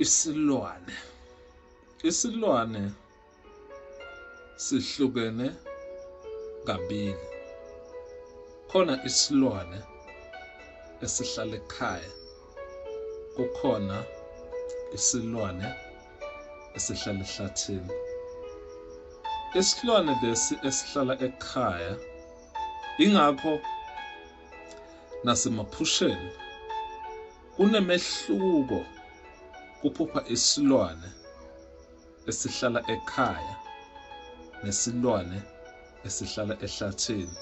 isilwane isilwane sihlukene kabili khona isilwane esihlala ekhaya kukhona isilwane esihlala ehlathini isilwane lesi esihlala ekhaya ingakho nasemaphusheni Kunemehluko kuphupha isilwane esihlala ekhaya nesilwane esihlala ehlathini.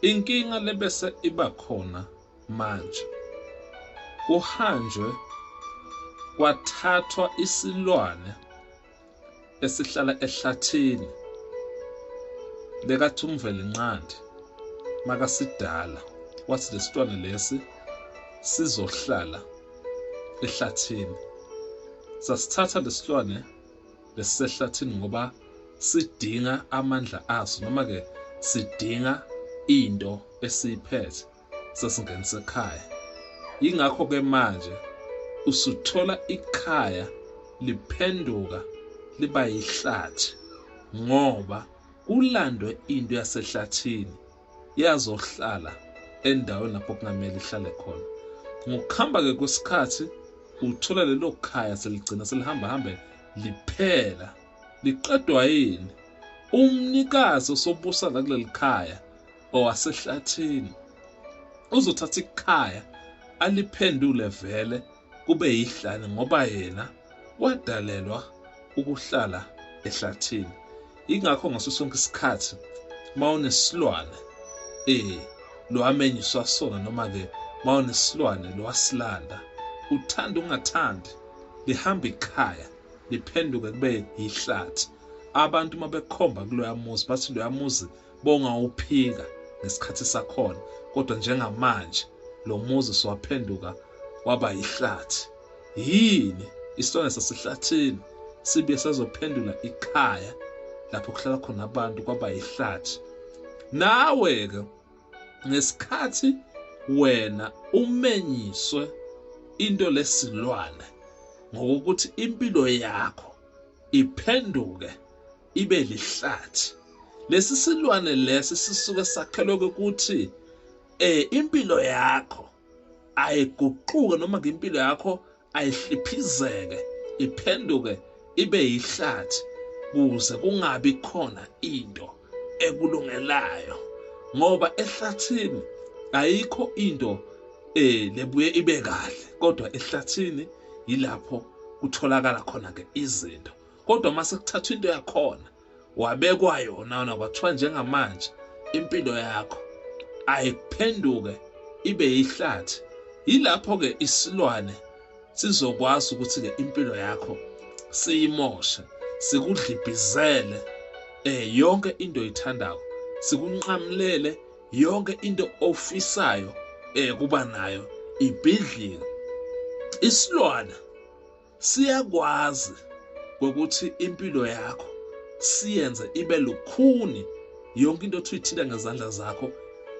Inkinga lebese iba khona manje. Kuhanjwe kwathathwa isilwane esihlala ehlathini lekathi umvelinqandi makasidala wathi lesitwana lesi sizohlala ehlathini sasithatha lesilwane lesisehlathini ngoba sidinga amandla aso noma ke sidinga into esiyiphethe sesingenisa ekhaya. Yingakho ke manje usuthola ikhaya liphenduka liba yihlathi ngoba kulandwe into yasehlathini yazohlala endaweni lapho kungamele ihlale khona. Ngokuhamba ke kwesikhathi uthola lelo khaya seligcina selihamba hambe liphela liqedwa yini umnikazi osobusa la kuleli khaya owasehlathini uzothatha ikhaya aliphendule vele kube yihlane ngoba yena wadalelwa ukuhlala ehlathini ingakho ngaso sonke isikhathi mawunesilwane eh lwamenyiswa sona noma ke mawunesilwane lwasilanda uthanda ungathandi lihamba ikhaya liphenduke kube yihlathi abantu uma bekhomba kuloya muzi bathi loya muzi bongawuphika ngesikhathi sakhona kodwa njengamanje lo muzi siwaphenduka waba yihlathi yini isitwana sasehlathini sibuye sazophendula ikhaya lapho kuhlala khona abantu kwaba yihlathi nawe-ke ngesikhathi wena umenyiswe into lesilwane ngokuthi impilo yakho iphenduke ibe lihlathi lesi silwane lesi sisuke sakhelwe ukuthi eh impilo yakho ayiguquke noma ngempilo yakho ayihliphizeke iphenduke ibe yihlathi kuze kungabi khona into ekulungelayo ngoba ehlathini ayikho into eh lebuye ibe kahle kodwa ehlathini yilapho kutholakala khona ke izinto kodwa uma sekuthathwa into yakhona wabekwa yona wona kwathiwa njengamanje impilo yakho ayiphenduke ibe yihlathi yilapho-ke isilwane sizokwazi ukuthi-ke impilo yakho siyimoshe sikudlibhizele eh yonke into oyithandayo sikunqamulele yonke into ofisayo eh kuba nayo ibhidlika isilwana siyakwazi ukuthi impilo yakho siyenze ibe lukhuni yonke into othi uyithinta ngezandla zakho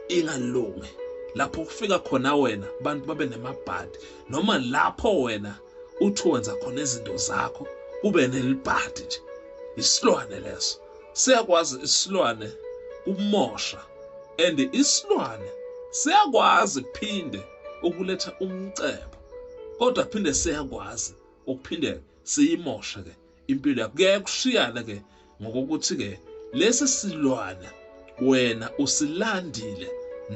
ingalungi lapho kufika khona wena abantu babe nemabhadi noma lapho wena uthi wenza khona izinto zakho kube nelibhadi nje isilwane leso siyakwazi isilwane kumosha and isilwane siyakwazi phinde ukuletha umcebo kodwa phinde siyakwazi ukuphinde siyimoshe ke impilo yakho kuyaye kushiyane ke ngokokuthi ke lesi silwane wena usilandile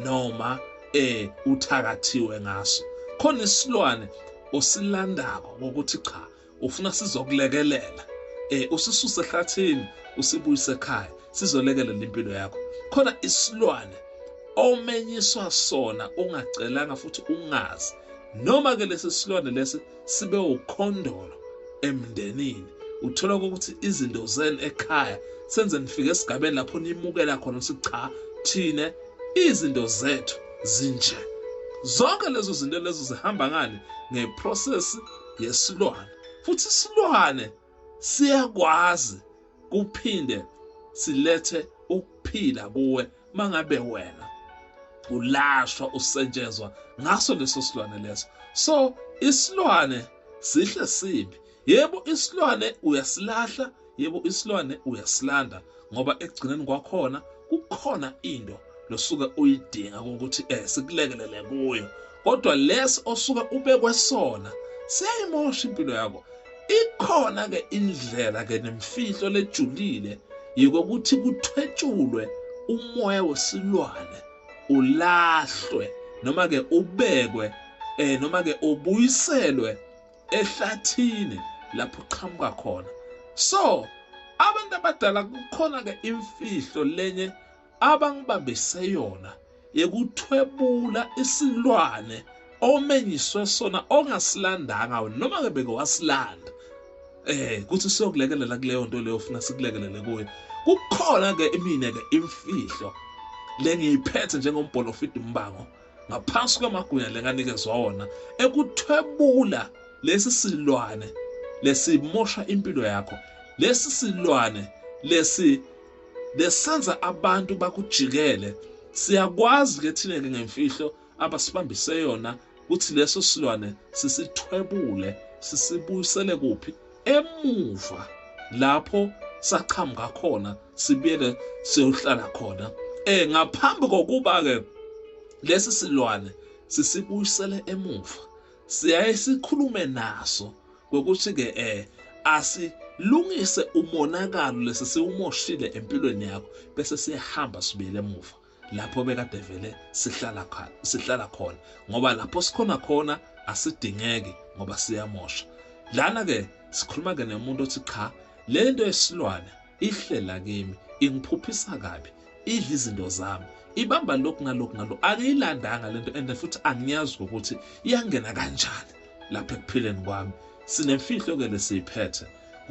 noma eh uthakathiwe ngaso khona isilwane osilandako ngokuthi cha ufuna sizokulekelela eh usisuse ehlathini usibuyise ekhaya sizolekelela impilo yakho khona isilwane omenyiswa sona ungacelanga futhi ungazi noma ke lesi silwane lesi sibe ukhondolo emndenini uthola ukuthi izinto zenu ekhaya senze nifike esigabeni lapho nimukela khona ukuthi cha thina izinto zethu zinje zonke lezo zinto lezo zihamba ngani ngeprocess yesilwane futhi isilwane siyakwazi kuphinde silethe ukuphila kuwe mangabe wena ulashwa usetshenzwa ngaso leso silwane leso so isilwane sihle sibi yebo isilwane uyasilahla Yebo isilwane uyasilanda ngoba ekugcineni kwakhona kukhona into losuke uyidinga ukuthi eh sikulekelele kuyo kodwa lesi osuke ubekwe sona siyayimosha impilo yakho ikhona ke indlela ke nemfihlo lejulile yikokuthi kuthwetshulwe umoya wesilwane ulahlwe noma ke ubekwe eh noma ke ubuyiselwe ehlathini lapho uqhamuka khona so abantu abadala kukhona ke imfihlo lenye abangibambise yona yekuthwebula isilwane omenyiswe sona ongasilandanga noma ke beke wasilanda eh kuthi siyokulekelela kuleyo nto leyo ufuna sikulekelele kuyo kukhona ke imine ke imfihlo lengiyiphethe njengombholofidi umbango ngaphansi kwamagunya lenganikezwa wona ekuthwebula lesi silwane lesimosha impilo yakho lesi silwane lesi lesenza abantu bakujikele siyakwazi ke thina ke ngemfihlo abasibambise yona ukuthi leso silwane sisithwebule sisibuyisele kuphi emuva lapho saqhamuka khona sibuyele siyohlala khona eh ngaphambi kokuba ke lesi silwane sisibuyisele emuva siyaye sikhulume naso ngokuthi ke eh asilungise umonakalo lesi siwumoshile empilweni yakho bese siyahamba sibuyele emuva lapho bekade vele sihlala khona sihlala khona ngoba lapho sikhona khona asidingeki ngoba siyamosha lana ke sikhuluma ke nemuntu othi cha lento esilwane ihlela kimi ingiphuphisa kabi idla izinto zami ibamba lokhu nalokhu nalo angiyilandanga lento and futhi angiyazi ukuthi iyangena kanjani lapha ekuphileni kwami sinemfihlo ke lesiyiphethe